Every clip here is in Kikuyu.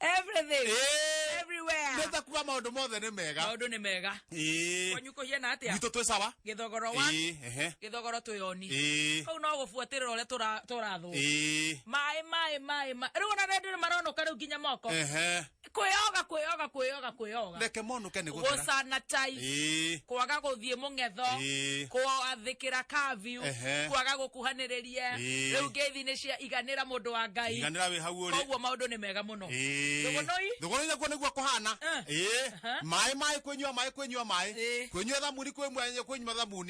everything Eh. everywhere nĩta kuga maũndũ mothe nĩ mega maũndũ nĩ mega Ĩĩ. kwanyu kũhiana atĩa gwitũ twĩ sawa gĩthogoro wa Ĩĩ, ehe. gĩthogoro twĩyoni Ĩĩ. kau no gũbuatĩrĩra ũrĩa tũra- tũrathwo Ĩĩ. maĩ maĩ maĩ maĩ rĩu ona rĩndĩ nĩ maronoka rĩu nginya moko Ehe. kwĩyoga kwĩyoga kwĩyoga kwĩyoga reke monuke nĩ gũthera gũcana tai Ĩĩ. kwaga gũthiĩ mũng'etho Ĩĩ. kwathĩkĩra kabiu Ehe. kwaga gũkuhanĩrĩria Ĩĩ. rĩu ngeithi nĩ cia iganĩra mũndũ wa ngai iganĩra wĩ hau ũrĩ koguo maũndũ nĩ mega mũno Ĩĩ. Thũgũnũi? thũgũnũi nakuo nĩguo kũhana Eh. Ĩĩ. Aha. maĩ maĩ kwĩnyua maĩ kwĩnyua maĩ Ĩĩ. kwĩnyua thamuni kwĩnyua kwĩnyua thamuni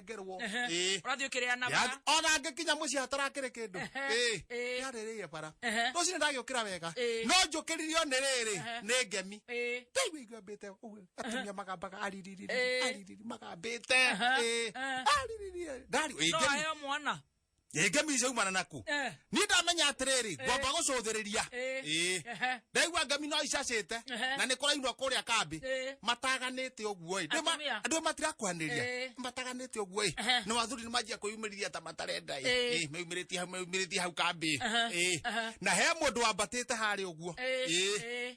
ndengerwo Ehe. Ĩĩ. ũrathiĩ ũkĩrĩanaga Yathi- ona ngĩkinya mũciĩ hatarakĩrĩ kĩndũ Ehe. Ĩĩ. Ĩĩ. yarĩrĩire bara Ehe. rũcinĩ ndagĩũkĩra wega Ĩĩ. no njũkĩririo nĩ rĩrĩ Ehe. nĩ ngemi Ĩĩ. ndaigua igambĩte ũguo atumia magambaga aririri Ĩĩ. aririri magambĩte Ehe. Ĩĩ. Ehe. aririri ndari No aheo mwana rĩngĩ mica umana naku Eh. niĩ ndamenya atĩrĩrĩ ngwamba gũcũthĩrĩria Eh. Ĩĩ. Ehe. ndaigua ngemi no icacĩte Ehe. na nĩ kũrainwo kũrĩa kambĩ Eh. mataganĩte ũguo ĩ Ndĩ ma- Atumia. andũ matirakwanĩria Eh. mataganĩte ũguo ĩ Ehe. na wathuri nĩ manjia kwĩyumĩrithia ta matarenda ĩ Eh. Ĩ, meyumĩrĩtie hau meyumĩrĩtie hau kambĩ Ehe. Ĩ. Ehe. na he mũndũ wambatĩte harĩa ũguo Eh. Ĩ. Eh.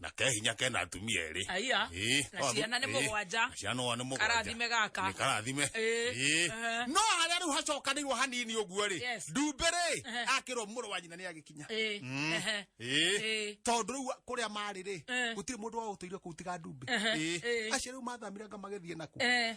na ke hinya kena atumia erĩ Aya. Ĩĩ, Na o- ciana nĩ ĩĩ, mũgwanja. na ciana nĩ mũgwanja Karathime gaka. Nĩ karathime Ĩĩ. Ĩĩ. Ehe. no harĩa rĩu hacokanĩirwo hanini ũguo rĩ Yes. ndumbĩ rĩ Ehe. akĩrwo mũrũ wa nyina nĩ agĩkinya Ĩĩ. Mm. Ehe. Ĩĩ. Ĩĩ. tondũ rĩu kũrĩa marĩ rĩ Eh. gũtirĩ mũndũ waũtũire kũu tiga ndumbĩ Eh, Ĩĩ. eh. acio rĩu mathamire nga magĩthiĩ naku Eh.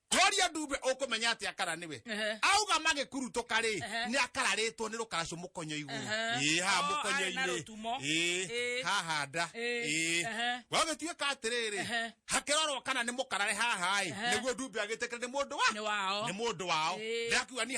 Gloria Dube ukumenya atia kana niwe Ehe. auga magikurutuka ri Ehe. ni akararitwo ni rukaracu mukonyo iguru Ehe. ii ha Oh, mukonyo arĩ na rũtumo. ii Ĩĩ. haha nda Ĩĩ. ii Ehe. gwagituika atiriri Ehe. hakirorwo kana ni mukarare haha i Ehe. niguo Dube agitikire ni mundu wa Nĩ wao. ni mundu wao Ĩĩ. ndakiuga ni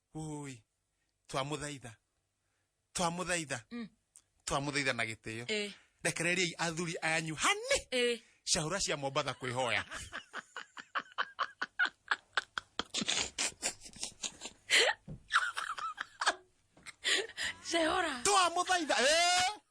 ui twamũthaitha twamũthaitha Mm. twamũthaitha na gĩtĩo Eh. rekereriai athuri ayanyu hani Eh. cahũra cia mombatha kwĩhoya Cehora. twamũthaitha eh!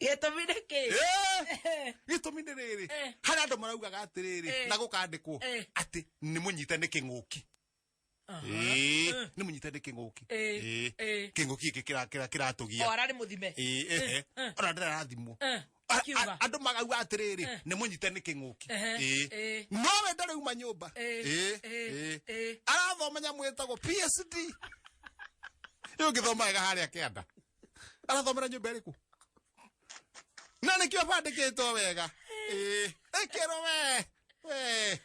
gĩtũmi nĩ kĩ Eh, gĩtũmi nĩ rĩrĩ Eh. harĩ andũ maraugaga atĩrĩrĩ Eh. na gũkandĩkwo Eh. atĩ nĩ mũnyite nĩ kĩng'ũki Ĩĩ, nĩ mũnyite nĩ kĩng'ũki Eh, Ĩĩ, eh. kĩng'ũki gĩkĩ kĩra- kĩra- kĩratũgia o ararĩ mũthime Ĩĩ, ehe. eh. ona ndĩrarathimwo Eh, A- a- kiuga. andå magauga atä rä rä nä må nyite nä kä ng'å ki Ehe, eh. no we ndarä uma nyå mba Eh, eh, eh. arathoma nyamå ä tagwo psd rä å ngä thomaga harä a kä anda arathomera nyũmba ĩrĩkũ na nĩkĩo bandĩkĩtwo wega Ĩĩ, ĩkĩrwo we we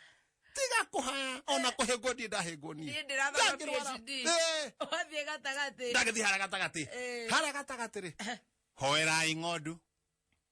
tiga kũhaya ona kũhĩngwo ndiĩ ndahĩngwo niĩ Niĩ ndĩrathoma Ndangĩrwara. PhD. Ĩĩ, wathiĩ gatagatĩ ndagĩthiĩ hara gatagatĩ Ĩĩ. hara gatagatĩ rĩ hoerai ng'ondu